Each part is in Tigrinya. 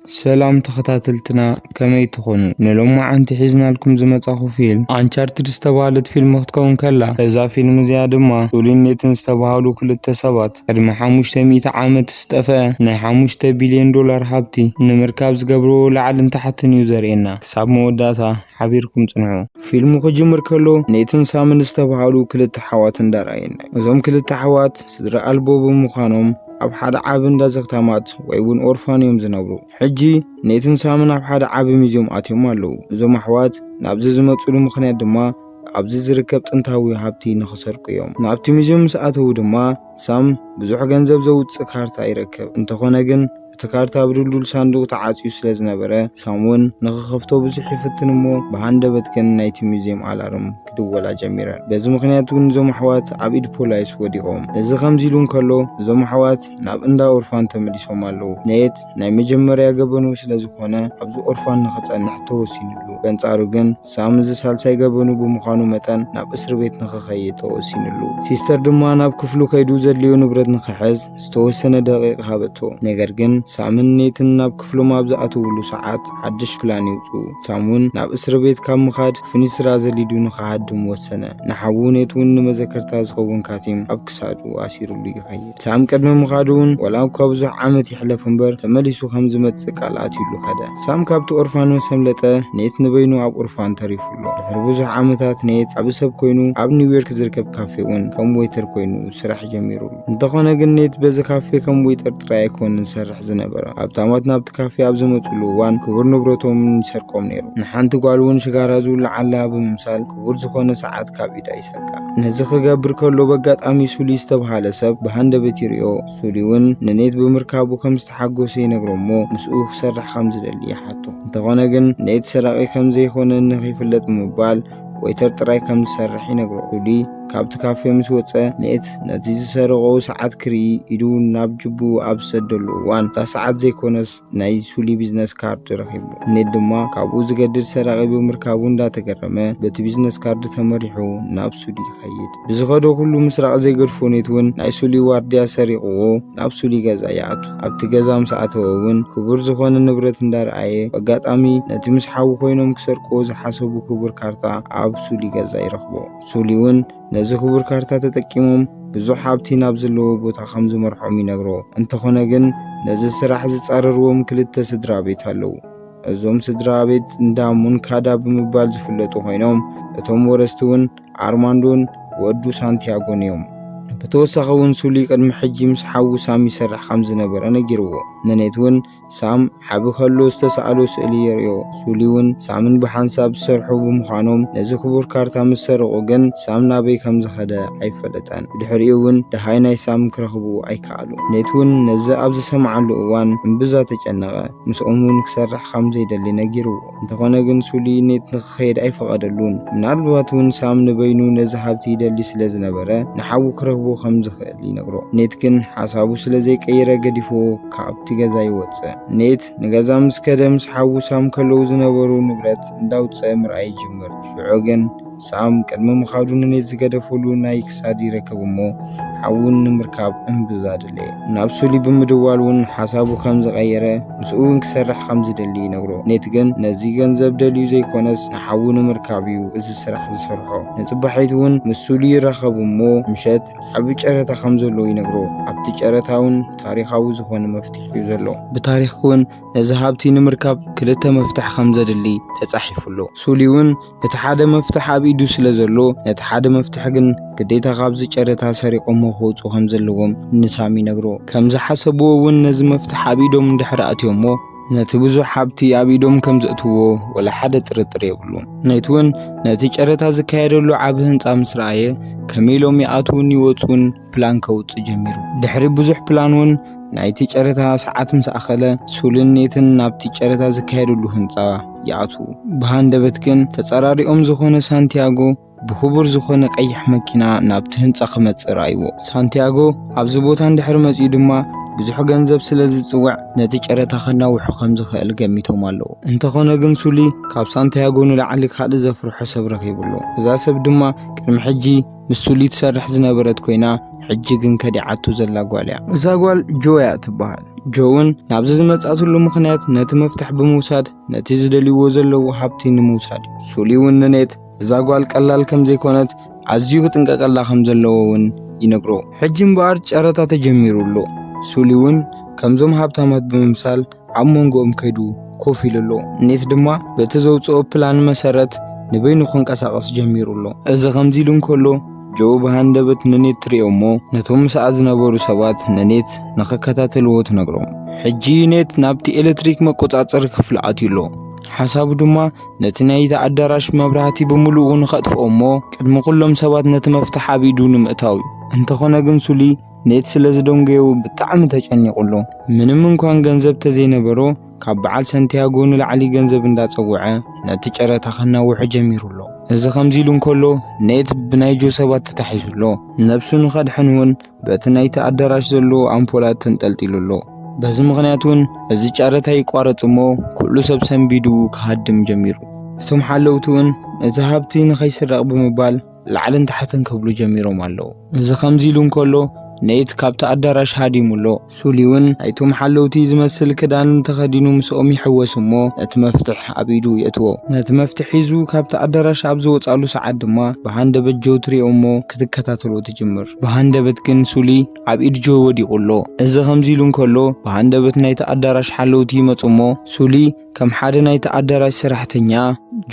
ሰላም ተኸታተልትና ከመይ ትኾኑ ንሎማዓንቲ ሒዝናልኩም ዝመጻኹ ፊልም ኣንቻርትድ ዝተባህለት ፊልም ክትከውን ከላ እዛ ፊልም እዚኣ ድማ ጁሊን ኔትን ዝተባሃሉ ክልተ ሰባት ቅድሚ ሓሙሽተ ሚእቲ ዓመት ዝጠፈኣ ናይ ሓሙሽተ ቢልዮን ዶላር ሃብቲ ንምርካብ ዝገብርዎ ላዕልን ታሕትን እዩ ዘርእየና ክሳብ መወዳእታ ሓቢርኩም ጽንሑ። ፊልሙ ክጅምር ከሎ ኔትን ሳምን ዝተብሃሉ ክልተ ኣሕዋት እንዳ ረኣየና እዩ። እዞም ክልተ ኣሕዋት ስድራ ኣልቦ ብምዃኖም ኣብ ሓደ ዓቢ እንዳ ዘኽታማት ወይ ውን ኦርፋን እዮም ዝነብሩ። ሕጂ ኔትን ሳምን ኣብ ሓደ ዓቢ ሚዝዮም ኣትዮም ኣለዉ። እዞም ኣሕዋት ናብዚ ዝመጽሉ ምኽንያት ድማ ኣብዚ ዝርከብ ጥንታዊ ሃብቲ ንኽሰርቁ እዮም። ናብቲ ሚዝዮም ምስ ኣተዉ ድማ ሳም ብዙሕ ገንዘብ ዘውጽእ ካርታ ይረክብ። እንተኾነ ግን እቲ ካርታ ብድልዱል ሳንዱቕ ተዓጽዩ ስለ ዝነበረ ሳምወን ንኽኸፍቶ ብዙሕ ይፍትን እሞ ብሃንደበት ግን ናይቲ ሙዚየም ኣላርም ክድወላ ጀሚረን። በዚ ምኽንያት እውን እዞም ኣሕዋት ኣብ ኢድ ፖላይስ ወዲቖም። እዚ ከምዚ ኢሉ እንከሎ እዞም ኣሕዋት ናብ እንዳ ኦርፋን ተመሊሶም ኣለዉ። ነየት ናይ መጀመርያ ገበኑ ስለ ዝኾነ ኣብዚ ኦርፋን ንኽጸንሕ ተወሲንሉ። በንጻሩ ግን ሳም እዚ ሳልሳይ ገበኑ ብምዃኑ መጠን ናብ እስርቤት ንኽኸይድ ተወሲንሉ። ሲስተር ድማ ናብ ክፍሉ ከይዱ ዘድልዮ ንብረት ንኽሕዝ፣ ዝተወሰነ ደቂቕ ሃበቶ። ነገር ግን ሳምን ኔትን ናብ ክፍሎም ኣብ ዝኣተውሉ ሰዓት ሓድሽ ፕላን የውጽኡ። ሳም ውን ናብ እስርቤት ካብ ምኻድ ፍኑይ ስራ ዘሊዱ ንኽሃድም ወሰነ። ንሓዉ ኔት ውን ንመዘከርታ ዝኸውን ካቲም ኣብ ክሳዱ ኣሲሩሉ ይኸይድ። ሳም ቅድሚ ምኻዱ ውን ዋላ እኳ ብዙሕ ዓመት ይሕለፍ እምበር ተመሊሱ ከም ዝመጽእ ቃል ኣትዩሉ ከደ። ሳም ካብቲ ኦርፋን ምስ ኣምለጠ ኔት ንበይኑ ኣብ ኦርፋን ተሪፉ ኣሎ። ድሕሪ ብዙሕ ዓመታት ኔት ዓቢ ሰብ ኮይኑ ኣብ ኒውዮርክ ዝርከብ ካፌ ውን ከም ዌይተር ኮይኑ ስራሕ ጀሚሩ ኣሎ። እንተኾነ ግን ኔት በዚ ካፌ ከም ዌይተር ጥራይ ኣይኮንን ዝሰርሕ ዝነበረ። ሃብታማት ናብቲ ካፌ ኣብ ዝመጽሉ እዋን ክቡር ንብረቶም ይሰርቆም ነይሩ። ንሓንቲ ጓል እውን ሽጋራ ዝውልዓላ ብምምሳል ክቡር ዝኾነ ሰዓት ካብ ኢዳ ይሰርቃ። ነዚ ክገብር ከሎ በጋጣሚ ሱሊ ዝተብሃለ ሰብ ብሃንደበት ይርእዮ። ሱሊ እውን ንኔት ብምርካቡ ከም ዝተሓጎሰ ይነግሮ እሞ ምስኡ ክሰርሕ ከም ዝደሊ ይሓቶ። እንተኾነ ግን ኔት ሰራቂ ከም ዘይኮነ ንኸይፍለጥ ብምባል ወይተር ጥራይ ከም ዝሰርሕ ይነግሮ። ጁሊ ካብቲ ካፌ ምስ ወጸ ኔት ነቲ ዝሰረቆ ሰዓት ክርኢ ኢዱ ናብ ጅቡ ኣብ ዝሰደሉ እዋን እታ ሰዓት ዘይኮነስ ናይ ሱሊ ቢዝነስ ካርድ ረኺቡ። ኔት ድማ ካብኡ ዝገድድ ሰራቂ ብምርካቡ እንዳተገረመ በቲ ቢዝነስ ካርድ ተመሪሑ ናብ ሱሊ ይኸይድ። ብዝኸዶ ኩሉ ምስራቕ ዘይገድፎ ኔት እውን ናይ ሱሊ ዋርድያ ሰሪቕዎ ናብ ሱሊ ገዛ ይኣቱ። ኣብቲ ገዛ ምስ ኣተወ እውን ክቡር ዝኾነ ንብረት እንዳርኣየ በጋጣሚ ነቲ ምስ ሓዉ ኮይኖም ክሰርቅዎ ዝሓሰቡ ክቡር ካርታ ኣብ ሱሊ ገዛ ይረኽቦ። ሱሊ እውን ነዚ ክቡር ካርታ ተጠቂሞም ብዙሕ ሃብቲ ናብ ዘለዎ ቦታ ከም ዝመርሖም ይነግሮ። እንተኾነ ግን ነዚ ስራሕ ዝፃረርዎም ክልተ ስድራ ቤት ኣለዉ። እዞም ስድራ ቤት እንዳ ሙንካዳ ብምባል ዝፍለጡ ኮይኖም እቶም ወረስቲ እውን ኣርማንዶን ወዱ ሳንቲያጎን እዮም። ብተወሳኺ እውን ሱሊ ቅድሚ ሕጂ ምስ ሓዉ ሳም ይሰርሕ ከም ዝነበረ ነጊርዎ። ነኔት እውን ሳም ዓቢ ከሎ ዝተሳእሎ ስእሊ የርእዮ። ሱሊ እውን ሳምን ብሓንሳብ ዝሰርሑ ብምዃኖም ነዚ ክቡር ካርታ ምስ ሰረቑ ግን ሳም ናበይ ከም ዝኸደ ኣይፈለጠን። ብድሕሪኡ እውን ደሃይ ናይ ሳም ክረኽቡ ኣይከኣሉን። ኔት እውን ነዚ ኣብ ዝሰምዓሉ እዋን እምብዛ ተጨነቐ። ምስኦም እውን ክሰርሕ ከም ዘይደሊ ነጊርዎ። እንተኾነ ግን ሱሊ ኔት ንክኸይድ ኣይፈቐደሉን። ምናልባት እውን ሳም ንበይኑ ነዚ ሃብቲ ይደሊ ስለ ዝነበረ ንሓዉ ክረኽቦ ከም ዝኽእል ይነግሮ። ኔት ግን ሓሳቡ ስለ ዘይቀይረ ገዲፍዎ ካብቲ ገዛ ይወጽእ። ኔት ንገዛ ምስ ከደ ምስ ሓዉ ሳም ከለዉ ዝነበሩ ንብረት እንዳውጽኣ ምርኣይ ይጅምር። ሽዑ ግን። ሳም ቅድሚ ምኻዱ ንኔት ዝገደፈሉ ናይ ክሳድ ይረከብ እሞ ሓዊ ንምርካብ እምብዛ ደለየ። ናብ ሱሊ ብምድዋል እውን ሓሳቡ ከም ዝቐየረ ምስኡ እውን ክሰርሕ ከም ዝደሊ ይነግሮ። ኔት ግን ነዚ ገንዘብ ደልዩ ዘይኮነስ ንሓዊ ንምርካብ እዩ እዚ ስራሕ ዝሰርሖ። ንፅባሒት እውን ምስ ሱሊ ይራኸቡ እሞ ምሸት ዓቢ ጨረታ ከም ዘሎ ይነግሮ። ኣብቲ ጨረታ እውን ታሪኻዊ ዝኾነ መፍትሒ እዩ ዘሎ። ብታሪኽ እውን ነዚ ሃብቲ ንምርካብ ክልተ መፍትሒ ከም ዘድሊ ተፃሒፉ ኣሎ። ሱሊ እውን እቲ ሓደ መፍትሕ ኣብ ኢዱ ስለ ዘሎ ነቲ ሓደ መፍትሕ ግን ግዴታ ካብዚ ጨረታ ሰሪቖሞ ክወፁ ከም ዘለዎም ንሳም ይነግሮ። ከም ዝሓሰብዎ እውን ነዚ መፍትሕ ኣብ ኢዶም እንድሕር ኣእትዮሞ ነቲ ብዙሕ ሃብቲ ኣብ ኢዶም ከም ዘእትዎ ወላ ሓደ ጥርጥር የብሉን። ነቲ እውን ነቲ ጨረታ ዝካየደሉ ዓቢ ህንፃ ምስ ረኣየ ከመይ ኢሎም ይኣትዉን ይወፁን ፕላን ከውጽእ ጀሚሩ። ድሕሪ ብዙሕ ፕላን እውን ናይቲ ጨረታ ሰዓት ምስ ኣኸለ ሱልን ኔትን ናብቲ ጨረታ ዝካየደሉ ህንጻ ይኣትዉ። ብሃንደበት ግን ተጸራሪኦም ዝኾነ ሳንቲያጎ ብክቡር ዝኾነ ቀይሕ መኪና ናብቲ ህንጻ ክመጽእ ረኣይዎ። ሳንቲያጎ ኣብዚ ቦታ እንድሕር መጺኡ ድማ ብዙሕ ገንዘብ ስለ ዝጽውዕ ነቲ ጨረታ ከናውሑ ከም ዝኽእል ገሚቶም ኣለዉ። እንተኾነ ግን ሱሊ ካብ ሳንቲያጎ ንላዕሊ ካልእ ዘፍርሖ ሰብ ረኺቡ ኣሎ። እዛ ሰብ ድማ ቅድሚ ሕጂ ንሱሊ ትሰርሕ ዝነበረት ኮይና ሕጂ ግን ከዲዓቱ ዘላ ጓል እያ። እዛ ጓል ጆ እያ እትበሃል። ጆ እውን ናብዚ ዝመጽኣትሉ ምኽንያት ነቲ መፍትሕ ብምውሳድ ነቲ ዝደልይዎ ዘለዉ ሃብቲ ንምውሳድ እዩ። ሱሊ እውን ንኔት እዛ ጓል ቀላል ከም ዘይኮነት ኣዝዩ ክጥንቀቀላ ከም ዘለዎ እውን ይነግሮ። ሕጂ እምበኣር ጨረታ ተጀሚሩ ኣሎ። ሱሊ እውን ከምዞም ሃብታማት ብምምሳል ኣብ መንጎኦም ከይዱ ኮፍ ኢሉ ኣሎ። ኔት ድማ በቲ ዘውጽኦ ፕላን መሰረት ንበይኑ ክንቀሳቐስ ጀሚሩ ኣሎ። እዚ ከምዚ ኢሉ እንከሎ ጆ ብሃንደበት ንኔት ትሪኦ እሞ ነቶም ምስኣ ዝነበሩ ሰባት ንኔት ንኽከታተልዎ ትነግሮም። ሕጂ ኔት ናብቲ ኤሌክትሪክ መቆጻጸሪ ክፍሊ ኣትዩ ኣሎ። ሓሳቡ ድማ ነቲ ናይቲ ኣዳራሽ መብራህቲ ብምሉኡ ንኸጥፍኦ እሞ ቅድሚ ኩሎም ሰባት ነቲ መፍትሕ ኣብ ኢዱ ንምእታው እዩ። እንተኾነ ግን ሱሊ ኔት ስለ ዝደንጎየው ብጣዕሚ ተጨኒቑ ኣሎ። ምንም እንኳን ገንዘብ ተዘይነበሮ ካብ በዓል ሰንቲያጎ ንላዕሊ ገንዘብ እንዳጸወዐ ነቲ ጨረታ ከናውሖ ጀሚሩ ኣሎ። እዚ ከምዚ ኢሉ እንከሎ ኔት ብናይ ጆ ሰባት ተታሒዙ ኣሎ። ነብሱ ንኸድሕን እውን በቲ ናይቲ ኣዳራሽ ዘሎ ኣምፖላት ተንጠልጢሉ ኣሎ። በዚ ምኽንያት እውን እዚ ጨረታ ይቋረጽ እሞ ኩሉ ሰብ ሰንቢዱ ክሃድም ጀሚሩ። እቶም ሓለውቲ እውን ነቲ ሃብቲ ንኸይስረቕ ብምባል ላዕልን ታሕትን ክብሉ ጀሚሮም ኣለዉ። እዚ ከምዚ ኢሉ እንከሎ ነይት ካብቲ ኣዳራሽ ሃዲሙ ኣሎ። ሱሊ እውን ናይቶም ሓለውቲ ዝመስል ክዳን ተኸዲኑ ምስኦም ይሕወስ እሞ ነቲ መፍትሕ ኣብ ኢዱ የእትዎ። ነቲ መፍትሕ ሒዙ ካብቲ ኣዳራሽ ኣብ ዝወጽኣሉ ሰዓት ድማ ብሃንደበት ጆ ትሪኦ እሞ ክትከታተሎ ትጅምር። ብሃንደበት ግን ሱሊ ኣብ ኢድ ጆ ወዲቑ ኣሎ። እዚ ከምዚ ኢሉ እንከሎ ብሃንደበት ናይቲ ኣዳራሽ ሓለውቲ ይመጹ እሞ ሱሊ ከም ሓደ ናይቲ ኣዳራሽ ሰራሕተኛ፣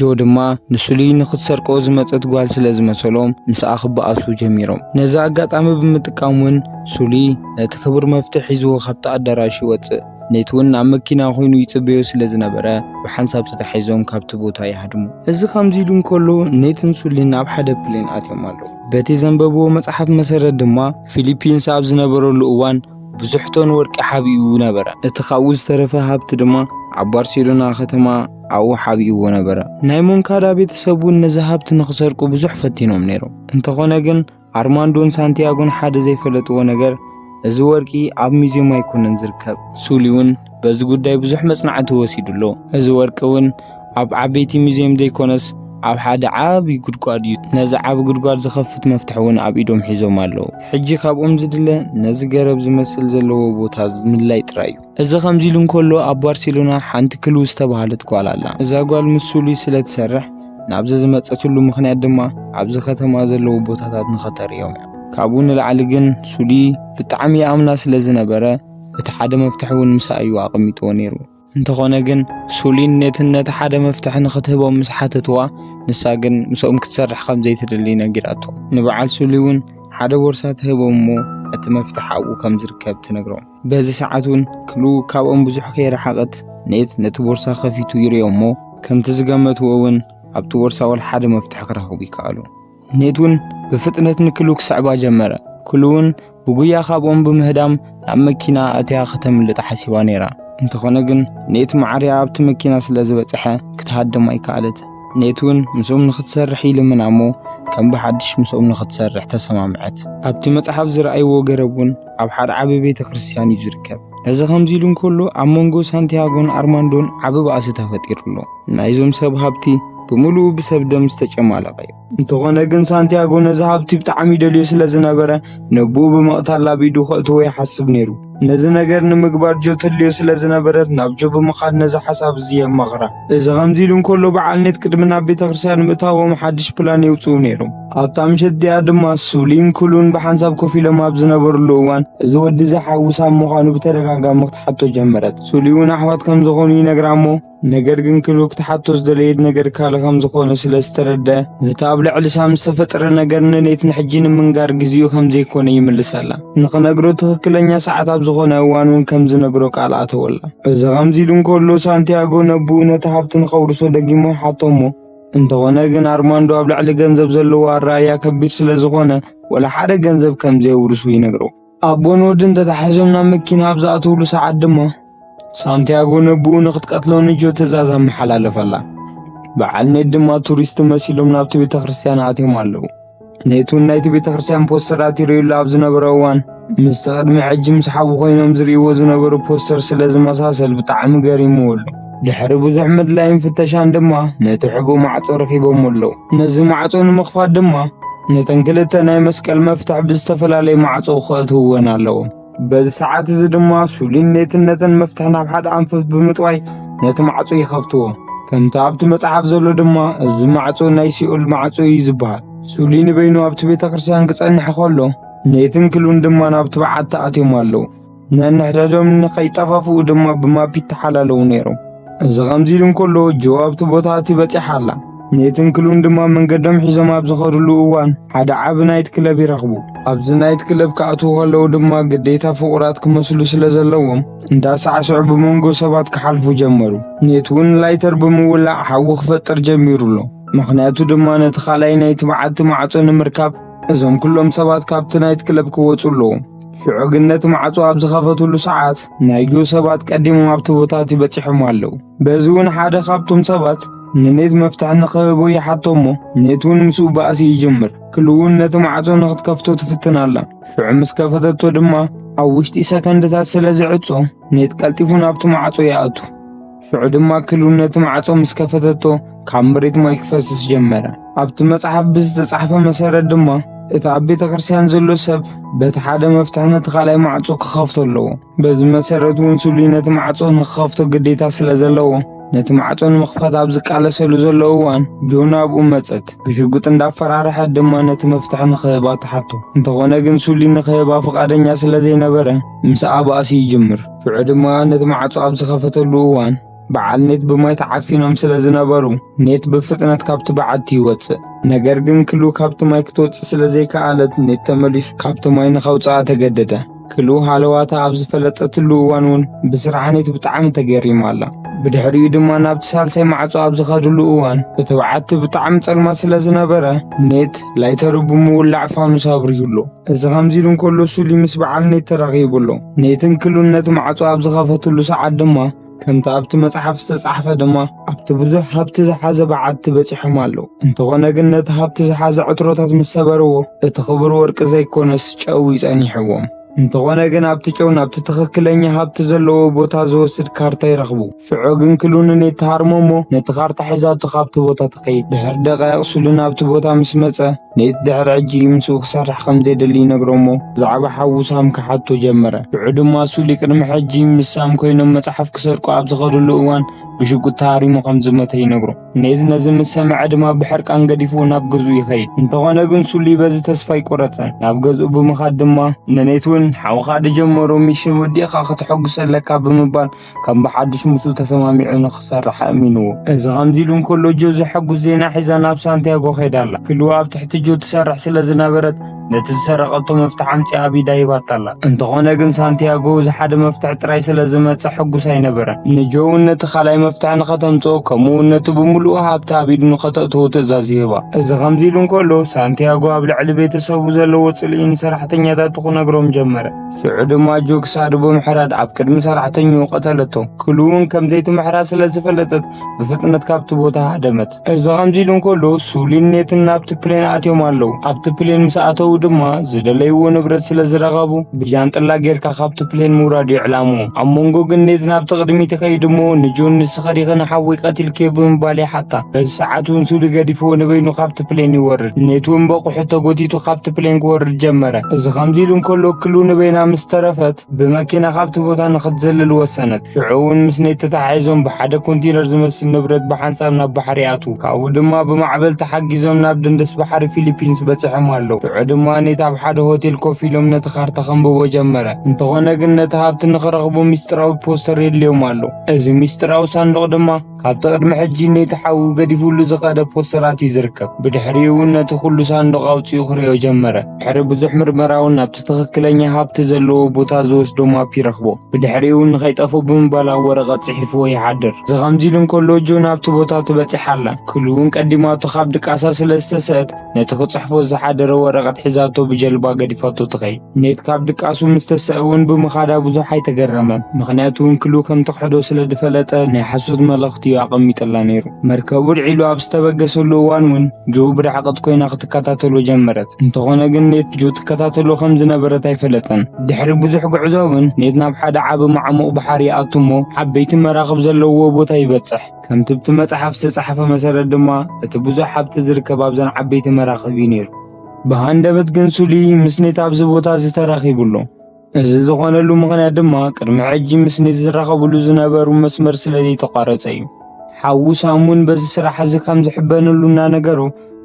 ጆ ድማ ንስሉይ ንኽትሰርቆ ዝመጸት ጓል ስለ ዝመሰሎም ምስኣ ክበኣሱ ጀሚሮም። ነዚ ኣጋጣሚ ብምጥቃም ውን ስሉይ ነቲ ክቡር መፍትሕ ሒዝዎ ካብቲ ኣዳራሽ ይወጽእ። ኔት ውን ኣብ መኪና ኮይኑ ይጽበዮ ስለ ዝነበረ ብሓንሳብ ተታሒዞም ካብቲ ቦታ ይሃድሙ። እዚ ከምዚ ኢሉ እንከሎ ኔትን ስሉይን ኣብ ሓደ ፕሌን ኣትዮም ኣለዉ። በቲ ዘንበብዎ መጽሓፍ መሰረት ድማ ፊሊፒንስ ኣብ ዝነበረሉ እዋን፣ ብዙሕ ቶን ወርቂ ሓቢኡ ነበረ። እቲ ኻብኡ ዝተረፈ ሃብቲ ድማ ኣብ ባርሴሎና ኸተማ ኣብኡ ሓቢእዎ ነበረ። ናይ ሞንካዳ ቤተሰብ እውን ነዚ ሃብቲ ንኽሰርቁ ብዙሕ ፈቲኖም ነይሮም። እንተኾነ ግን ኣርማንዶን ሳንቲያጎን ሓደ ዘይፈለጥዎ ነገር እዚ ወርቂ ኣብ ሙዝየም ኣይኮነን ዝርከብ። ሱሊ እውን በዚ ጉዳይ ብዙሕ መጽናዕቲ ተወሲዱ ኣሎ። እዚ ወርቂ እውን ኣብ ዓበይቲ ሙዚየም ዘይኮነስ ኣብ ሓደ ዓቢ ጉድጓድ እዩ። ነዚ ዓቢ ጉድጓድ ዝኸፍት መፍትሕ እውን ኣብ ኢዶም ሒዞም ኣለዉ። ሕጂ ካብኦም ዝድለ ነዚ ገረብ ዝመስል ዘለዎ ቦታ ምልላይ ጥራይ እዩ። እዚ ከምዚ ኢሉ እንከሎ ኣብ ባርሴሎና ሓንቲ ክሉ ዝተባህለት ጓል ኣላ። እዛ ጓል ምስ ሱሊ ስለ ትሰርሕ ናብዚ ዝመጸትሉ ምኽንያት ድማ ኣብዚ ከተማ ዘለዉ ቦታታት ንኸተርእዮም እያ። ካብኡ ንላዕሊ ግን ሱሊ ብጣዕሚ ይኣምና ስለ ዝነበረ፣ እቲ ሓደ መፍትሒ እውን ምሳእ እዩ ኣቐሚጥዎ ነይሩ። እንተኾነ ግን ሱሊን ኔትን ነቲ ሓደ መፍትሒ ንኽትህቦም ምስ ሓተትዋ፣ ንሳ ግን ምስኦም ክትሰርሕ ከም ዘይትደሊ ነጊራቶ። ንበዓል ሱሊ እውን ሓደ ቦርሳ ትህቦም እሞ እቲ መፍትሒ ኣብኡ ከም ዝርከብ ትነግሮም። በዚ ሰዓት እውን ክሉ ካብኦም ብዙሕ ከይረሓቐት ኔት ነቲ ቦርሳ ከፊቱ ይርእዮ እሞ፣ ከምቲ ዝገመትዎ እውን ኣብቲ ቦርሳ ወላ ሓደ መፍትሒ ክረኽቡ ይከኣሉ። ኔትውን ብፍጥነት ንክሉ ክስዕባ ጀመረ። ክሉውን ብጉያ ካብኦም ብምህዳም ናብ መኪና ኣትያ ከተምልጥ ሓሲባ ነይራ። እንተኾነ ግን ኔት መዓርያ ኣብቲ መኪና ስለ ዝበጽሐ ክትሃድም ኣይከኣለት። ኔትውን ምስኦም ንክትሰርሕ ይልምና እሞ ከም ብሓድሽ ምስኦም ንክትሰርሕ ተሰማምዐት። ኣብቲ መጽሓፍ ዝረኣይዎ ገረብ እውን ኣብ ሓደ ዓቢ ቤተ ክርስቲያን እዩ ዝርከብ። እዚ ከምዚ ኢሉ እንከሎ ኣብ መንጎ ሳንቲያጎን ኣርማንዶን ዓቢ ባእሲ ተፈጢሩ ኣሎ። ናይዞም ሰብ ሃብቲ ብምሉኡ ብሰብ ደም ዝተጨማለቐ እዩ። እንተኾነ ግን ሳንቲያጎ ነዚ ሃብቲ ብጣዕሚ ይደልዮ ስለ ዝነበረ ነቦኡ ብምቕታል ኣብ ኢዱ ከእትዎ ይሓስብ ነይሩ። ነዚ ነገር ንምግባር ጆ ተድልዮ ስለ ዝነበረት ናብ ጆ ብምኻድ ነዚ ሓሳብ እዚ የማኽራ። እዚ ከምዚ ኢሉ እንከሎ በዓል ኔት ቅድሚ ናብ ቤተ ክርስቲያን ምእታዎም ሓድሽ ፕላን የውጽኡ ነይሮም። ኣብታ ምሸት እቲኣ ድማ ሱሊን ክሉን ብሓንሳብ ኮፍ ኢሎም ኣብ ዝነበርሉ እዋን እዚ ወዲ እዚ ሓዊ ሳብ ምዃኑ ብተደጋጋሚ ክትሓቶ ጀመረት። ሱሊ እውን ኣሕዋት ከም ዝኾኑ ይነግራ እሞ ነገር ግን ክሉ ክትሓቶ ዝደለየት ነገር ካልእ ከም ዝኾነ ስለ ዝተረደ ነቲ ኣብ ልዕሊ ሳም ዝተፈጠረ ነገር ንኔት ንሕጂ ንምንጋር ግዜኡ ከም ዘይኮነ ይምልሰላ። ንኽነግሮ ትኽክለኛ ሰዓት ኣብ ዝኾነ እዋን እውን ከም ዝነግሮ ቃል ኣተወላ። እዚ ከምዚ ኢሉ እንከሎ ሳንቲያጎ ነብኡ ነቲ ሃብቲ ንኸውርሶ ደጊሞ ይሓቶ እሞ እንተኾነ ግን ኣርማንዶ ኣብ ልዕሊ ገንዘብ ዘለዎ ኣረኣእያ ከቢድ ስለ ዝኾነ ወላ ሓደ ገንዘብ ከም ዘየውርሱ ይነግሮ። ኣቦን ወድን ተታሒዞም ናብ መኪና ኣብ ዝኣተውሉ ሰዓት ድማ ሳንቲያጎ ነብኡ ንኽትቀትሎ ንጆ ትእዛዝ ኣመሓላለፈላ። በዓል ኔት ድማ ቱሪስት መሲሎም ናብቲ ቤተ ክርስቲያን ኣትዮም ኣለዉ። ነይቱን ናይቲ ቤተ ክርስቲያን ፖስተራት ይርእዩሉ ኣብ ዝነበረ እዋን ምስቲ ቅድሚ ሕጂ ምስ ሓዊ ኮይኖም ዝርእይዎ ዝነበሩ ፖስተር ስለ ዝመሳሰል ብጣዕሚ ገሪምዎ ኣሎ። ድሕሪ ብዙሕ ምድላይን ፍተሻን ድማ ነቲ ሕቡ ማዕጾ ረኺቦሞ ኣለዉ። ነዚ ማዕጾ ንምኽፋት ድማ ነተን ክልተ ናይ መስቀል መፍትሕ ብዝተፈላለየ ማዕጾ ከእትውወን ኣለዎም። በዚ ሰዓት እዚ ድማ ሱሊን ኔትነትን መፍትሕ ናብ ሓደ ኣንፈት ብምጥዋይ ነቲ ማዕጾ ይኸፍትዎ ከምቲ ኣብቲ መጽሓፍ ዘሎ ድማ እዚ ማዕጾ ናይ ሲኦል ማዕጾ እዩ ዝበሃል ሱሊ ንበይኑ ኣብቲ ቤተ ክርስቲያን ክጸንሕ ከሎ ኔትን ክሉን ድማ ናብቲ በዓቲ ኣትዮም ኣለዉ ነንሕድሕዶም ንኸይጠፋፍኡ ድማ ብማፒ ተሓላለዉ ነይሮም እዚ ኸምዚ ኢሉ እንከሎ ጆ ኣብቲ ቦታ እቲ በጺሓ ኣላ ኔትን ክሉን ድማ መንገዶም ሒዞም ኣብ ዝኸድሉ እዋን ሓደ ዓቢ ናይት ክለብ ይረኽቡ። ኣብዚ ናይት ክለብ ክኣትዉ ከለዉ ድማ ግዴታ ፍቑራት ክመስሉ ስለ ዘለዎም እንዳሳዕስዑ ብመንጎ ሰባት ክሓልፉ ጀመሩ። ኔት እውን ላይተር ብምውላዕ ሓዊ ክፈጥር ጀሚሩ ኣሎ። ምኽንያቱ ድማ ነቲ ካልኣይ ናይቲ በዓቲ ማዕጾ ንምርካብ እዞም ኩሎም ሰባት ካብቲ ናይት ክለብ ክወጹ ኣለዎም። ሽዑ ግን ነቲ ማዕጾ ኣብ ዝኸፈትሉ ሰዓት ናይ ጆ ሰባት ቀዲሞም ኣብቲ ቦታ እቲ በጺሖም ኣለዉ። በዚ እውን ሓደ ካብቶም ሰባት ንኔት መፍትሒ ንኽህቦ ይሓቶ እሞ ኔት እውን ምስኡ ባእሲ ይጅምር ክሉ እውን ነቲ ማዕጾ ንኽትከፍቶ ትፍትን ኣላ ሽዑ ምስ ከፈተቶ ድማ ኣብ ውሽጢ ሰከንድታት ስለ ዝዕጾ ኔት ቀልጢፉ ናብቲ ማዕጾ ይኣቱ ሽዑ ድማ ክሉ ነቲ ማዕጾ ምስ ከፈተቶ ካብ መሬት ማይ ክፈስስ ጀመረ ኣብቲ መጽሓፍ ብዝተጻሕፈ መሰረት ድማ እቲ ኣብ ቤተ ክርስቲያን ዘሎ ሰብ በቲ ሓደ መፍትሒ ነቲ ካልኣይ ማዕጾ ክኸፍቶ ኣለዎ በዚ መሰረት እውን ስሉይ ነቲ ማዕጾ ንክኸፍቶ ግዴታ ስለ ዘለዎ ነቲ ማዕጾ ንምኽፋት ኣብ ዝቃለሰሉ ዘሎ እዋን ጆ ናብኡ መጸት። ብሽጉጥ እንዳፈራርሐት ድማ ነቲ መፍትሒ ንክህባ ተሓቶ። እንተኾነ ግን ሱሊ ንክህባ ፍቓደኛ ስለ ዘይነበረ ምስ ኣባእሲ ይጅምር። ሽዑ ድማ ነቲ ማዕጾ ኣብ ዝኸፈተሉ እዋን በዓል ኔት ብማይ ተዓፊኖም ስለ ዝነበሩ ኔት ብፍጥነት ካብቲ በዓቲ ይወፅእ። ነገር ግን ክሉ ካብቲ ማይ ክትወፅእ ስለ ዘይከኣለት ኔት ተመሊሱ ካብቲ ማይ ንኸውፅኣ ተገደደ። ክሉ ሃለዋታ ኣብ ዝፈለጠትሉ እዋን እውን ብስራሕ ኔት ብጣዕሚ ተገሪማ ኣላ። ብድሕሪኡ ድማ ናብቲ ሳልሳይ ማዕፆ ኣብ ዝኸድሉ እዋን እቲ በዓቲ ብጣዕሚ ፀልማት ስለ ዝነበረ ኔት ላይተሩ ብምውላዕ ፋኑስ ኣብሪሁ ኣሎ። እዚ ኸምዚ ኢሉ እንከሎ ሱሊ ምስ በዓል ኔት ተራኺቡ ኣሎ። ኔትን ክሉን ነቲ ማዕጾ ኣብ ዝኸፈትሉ ሰዓት ድማ ከምቲ ኣብቲ መጽሓፍ ዝተጻሕፈ ድማ ኣብቲ ብዙሕ ሃብቲ ዝሓዘ በዓቲ በጺሖም ኣለዉ። እንተኾነ ግን ነቲ ሃብቲ ዝሓዘ ዕትሮታት ምስ ሰበርዎ እቲ ክቡር ወርቂ ዘይኮነስ ጨው እዩ ጸኒሕዎም። እንተኾነ ግን ኣብቲ ጨው ናብቲ ትኽክለኛ ሃብቲ ዘለዎ ቦታ ዝወስድ ካርታ ይረኽቡ። ሽዑ ግን ክሉንኔት ተሃርሞ እሞ ነቲ ካርታ ሒዛቶ ካብቲ ቦታ ትኸይድ። ድሕሪ ደቃይቕ ስሉን ኣብቲ ቦታ ምስ መጸ ኔት ድሕሪ ሕጂ ምስኡ ክሰርሕ ከም ዘይደሊ ይነግሮ እሞ ብዛዕባ ሓዉ ሳም ክሓቶ ጀመረ። ሽዑ ድማ ሱሊ ቅድሚ ሕጂ ምስ ሳም ኮይኖም መጽሓፍ ክሰርቁ ኣብ ዝኸድሉ እዋን ብሽጉጥ ተሃሪሙ ከም ዝሞተ ይነግሮ። ኔት ነዚ ምስ ሰምዐ ድማ ብሕርቃን ገዲፉ ናብ ገዝኡ ይኸይድ። እንተኾነ ግን ሱሊ በዚ ተስፋ ኣይቆረጸን። ናብ ገዝኡ ብምኻድ ድማ ንኔት እውን ሓውኻ ድጀመሮ ሚሽን ወዲእኻ ከተሐጉሶ ኣለካ ብምባል ከም ብሓድሽ ምስኡ ተሰማሚዑ ንኽሰርሕ ኣእሚንዎ። እዚ ከምዚ ኢሉ እንከሎ ጆ ዘሐጉስ ዜና ሒዛ ናብ ሳንቲያጎ ከይዳ ኣላ። ክሉ ኣብ ትሕቲ ጆ ትሰርሕ ስለ ዝነበረት ነቲ ዝሰረቐቶ መፍትሕ ኣምጺኣ ኣብ ኢዳ ሂባታ ኣላ። እንተኾነ ግን ሳንቲያጎ እዚ ሓደ መፍትሕ ጥራይ ስለ ዝመጸ ሕጉስ ኣይነበረን። ንጆ እውን ነቲ ካልኣይ መፍትሕ ንኸተምጽኦ ከምኡ እውን ነቲ ብምሉኡ ሃብታ ኣብ ኢዱ ንኸተእትዎ ትእዛዝ ይህባ። እዚ ከምዚ ኢሉ እንከሎ ሳንቲያጎ ኣብ ልዕሊ ቤተሰቡ ዘለዎ ጽልኢ ንሰራሕተኛታቱ ክነግሮም ጀመረ። ሽዑ ድማ ጆክ ሳዱ ብምሕራድ ኣብ ቅድሚ ሰራሕተኛኡ ቀተለቶ። ክሉ እውን ከም ዘይትምሕራ ስለ ዝፈለጠት ብፍጥነት ካብቲ ቦታ ሃደመት። እዚ ከምዚ ኢሉ እንከሎ ሱሊን ኔትን ናብቲ ፕሌን ኣትዮም ኣለዉ። ኣብቲ ፕሌን ምስ ኣተዉ ድማ ዝደለይዎ ንብረት ስለ ዝረኸቡ ብጃንጥላ ጌርካ ካብቲ ፕሌን ምውራድ እዩ ዕላምኡ። ኣብ መንጎ ግን ኔት ናብቲ ቅድሚት ይኸይድ እሞ ንጆን ተኸዲኺ ንሓወይ ቀቲልክዮ ብምባል ይሓታ። በዚ ሰዓት እውን ሱሊ ገዲፍዎ ንበይኑ ካብቲ ፕሌን ይወርድ። ኔት እውን በቑሑ ተጎቲቱ ካብቲ ፕሌን ክወርድ ጀመረ። እዚ ከምዚ ኢሉ እንከሎ ክሉ ንበይና ምስ ተረፈት ብመኪና ካብቲ ቦታ ንኽትዘልል ወሰነት። ሽዑ እውን ምስ ኔት ተተሓሒዞም ብሓደ ኮንቲነር ዝመስል ንብረት ብሓንሳብ ናብ ባሕሪ ይኣትዉ። ካብኡ ድማ ብማዕበል ተሓጊዞም ናብ ደንደስ ባሕሪ ፊሊፒንስ በጺሖም ኣለዉ። ሽዑ ድማ ኔት ኣብ ሓደ ሆቴል ኮፍ ኢሎም ነቲ ካርታ ከንብቦ ጀመረ። እንተኾነ ግን ነቲ ሃብቲ ንኽረኽቡ ሚስጢራዊ ፖስተር የድልዮም ኣሎ። እዚ ምስጢራዊ ሳንዱቕ ድማ ካብቲ ቅድሚ ሕጂ ነቲ ሓዊ ገዲፍሉ ዝኸደ ፖስተራት እዩ ዝርከብ። ብድሕሪኡ እውን ነቲ ኩሉ ሳንዱቕ ኣውጺኡ ክርእዮ ጀመረ። ድሕሪ ብዙሕ ምርመራ እውን ናብቲ ትኽክለኛ ሃብቲ ዘለዎ ቦታ ዝወስዶ ማፕ ይረኽቦ። ብድሕሪኡ እውን ንኸይጠፍኦ ብምባል ኣብ ወረቐት ጽሒፍዎ ይሓድር። እዚ ከምዚ ኢሉ እንከሎ ጆ ናብቲ ቦታ ትበጽሕ ኣላ። ክሉ እውን ቀዲማቶ ካብ ድቃሳ ስለ ዝተሰእት ነቲ ክጽሕፎ ዝሓደረ ወረቐት ሒዛቶ ብጀልባ ገዲፋቶ ትኸይድ። ኔት ካብ ድቃሱ ምስ ተሰእ እውን ብምኻዳ ብዙሕ ኣይተገረመን፣ ምኽንያቱ እንክሉ ከም ትኽሕዶ ስለ ዝፈለጠ ናይ ሓሶት መልእኽቲ እዩ ኣቐሚጡላ ነይሩ። መርከቡ ኣድዒሉ ኣብ ዝተበገሰሉ እዋን እውን ጆ ብርሕቐት ኰይና ክትከታተሎ ጀመረት። እንተዀነ ግን ኔት ጆ ትከታተሎ ከም ዝነበረት ኣይፈለጠን። ድሕሪ ብዙሕ ጉዕዞ እውን ኔት ናብ ሓደ ዓቢ ማዕሙቕ ባሕሪ ይኣቱ እሞ ዓበይቲ መራኽብ ዘለውዎ ቦታ ይበጽሕ። ከምቲ ኣብቲ መጽሓፍ ዝተጻሕፈ መሰረት ድማ እቲ ብዙሕ ሃብቲ ዝርከብ ኣብዘን ዓበይቲ መራኽብ እዩ ነይሩ። ብሃንደበት ግን ሱሊ ምስ ኔት ኣብዚ ቦታ እዚ ተራኺቡ ኣሎ። እዚ ዝኾነሉ ምኽንያት ድማ ቅድሚ ሕጂ ምስ ኔት ዝራኸብሉ ዝነበሩ መስመር ስለ ዘይተቋረጸ እዩ። ሓዉ ሳም እውን በዚ ስራሕ እዚ ከም ዝሕበነሉ እናነገሮ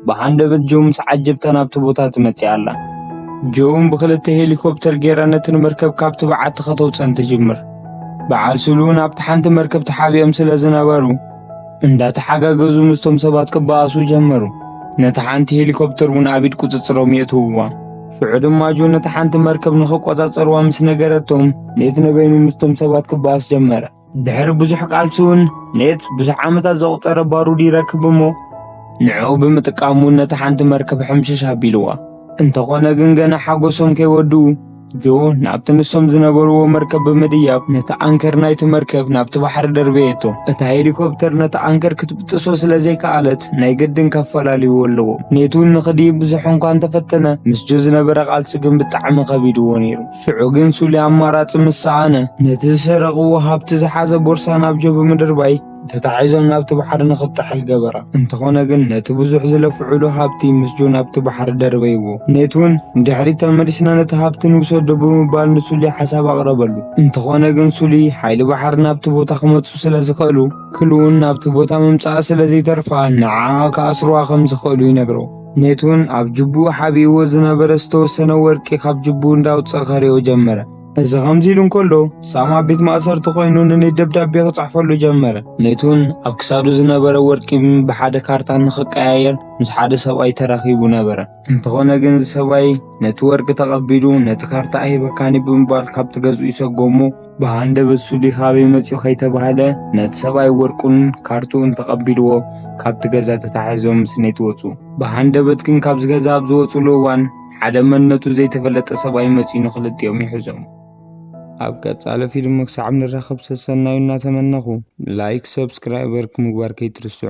ብሃንደበት ጆ ምስ ዓጀብታ ናብቲ ቦታ ትመጽእ ኣላ። ጆውን ብኽልተ ሄሊኮፕተር ጌራ ነቲ ንመርከብ ካብቲ በዓቲ ከተውጸን ትጅምር። በዓል ስሉውን ኣብቲ ሓንቲ መርከብ ተሓቢኦም ስለ ዝነበሩ እንዳተሓጋገዙ ምስቶም ሰባት ክበኣሱ ጀመሩ። ነቲ ሓንቲ ሄሊኮፕተር እውን ኣብ ኢድ ቁጽጽሮም የእትውዋ። ሽዑ ድማ ጆ ነቲ ሓንቲ መርከብ ንኽቆጻጸርዋ ምስ ነገረቶም ሌት ነበይኑ ምስቶም ሰባት ክበኣስ ጀመረ። ድሕሪ ብዙሕ ቃልሲውን ኔት ብዙሕ ዓመታት ዘቑፀረ ባሩድ ይረክብ እሞ ንዕኡ ብምጥቃሙ ነቲ ሓንቲ መርከብ ሕምሽሽ ኣቢልዋ እንተኾነ ግን ገና ሓጎሶም ከይወድኡ ጆ ናብቲ ንሶም ዝነበርዎ መርከብ ብምድያብ ነቲ ኣንከር ናይቲ መርከብ ናብቲ ባሕሪ ደርበየቶ እታ ሄሊኮፕተር ነቲ ኣንከር ክትብጥሶ ስለ ዘይከኣለት ናይ ግድን ከፈላልይዎ ኣለዎ ኔትውን ንኽድይብ ብዙሕ እንኳ እንተፈተነ ምስ ጆ ዝነበረ ቃልሲ ግን ብጣዕሚ ከቢድዎ ነይሩ ሽዑ ግን ሱሊ ኣማራጺ ምስ ሰኣነ፣ ነቲ ዝሰረቕዎ ሃብቲ ዝሓዘ ቦርሳ ናብ ጀቡ ምድርባይ፣ ተታሒዞም ናብቲ ባሕሪ ንኽጥሕል ገበረ። እንተኾነ ግን ነቲ ብዙሕ ዝለፍዑሉ ሃብቲ ምስ ጆን ኣብቲ ባሕሪ ደርበይዎ። ኔት እውን ንድሕሪት ተመሊስና ነቲ ሃብቲ ንውሰዶ ብምባል ንሱሊ ሓሳብ ኣቕረበሉ። እንተኾነ ግን ሱሊ ሓይሊ ባሕሪ ናብቲ ቦታ ክመጹ ስለ ዝኸእሉ፣ ክሉ እውን ናብቲ ቦታ ምምጻኣ ስለ ዘይተርፋ ንዓኣ ክኣስሩዋ ከም ዝኸእሉ ይነግሮ። ነቲውን ኣብ ጅብኡ ሓቢእዎ ዝነበረ ዝተወሰነ ወርቂ ካብ ጅብኡ እንዳውፀ ከሪኦ ጀመረ። እዚ ከምዚ ኢሉ እንከሎ ሳም ኣብ ቤት ማእሰርቲ ኮይኑ ንኔት ደብዳቤ ክጽሕፈሉ ጀመረ። ኔትውን ኣብ ክሳዱ ዝነበረ ወርቂ ብሓደ ካርታ ንክቀያየር ምስ ሓደ ሰብኣይ ተራኺቡ ነበረ። እንተኾነ ግን እዚ ሰብኣይ ነቲ ወርቂ ተቐቢሉ ነቲ ካርታ ኣይህበካኒ ብምባል ካብቲ ገዝኡ ይሰጎሞ። ብሃንደበት ሱዲ ካበይ መጺኡ ከይተባህለ ነቲ ሰብኣይ ወርቁን ካርትኡን ተቐቢልዎ ካብቲ ገዛ ተታሒዞም ስኔት ወጹ። ብሃንደበት ግን ካብዚ ገዛ ኣብ ዝወጹሉ እዋን ሓደ መንነቱ ዘይተፈለጠ ሰብኣይ መጺኡ ንክልቲኦም ይሕዞም። ኣብ ቀጻሊ ፊልም ክሳዕ ንራኸብ ሰሰናዩ እናተመነኹ ላይክ ሰብስክራይበርክ ምግባር ከይትርስዑ።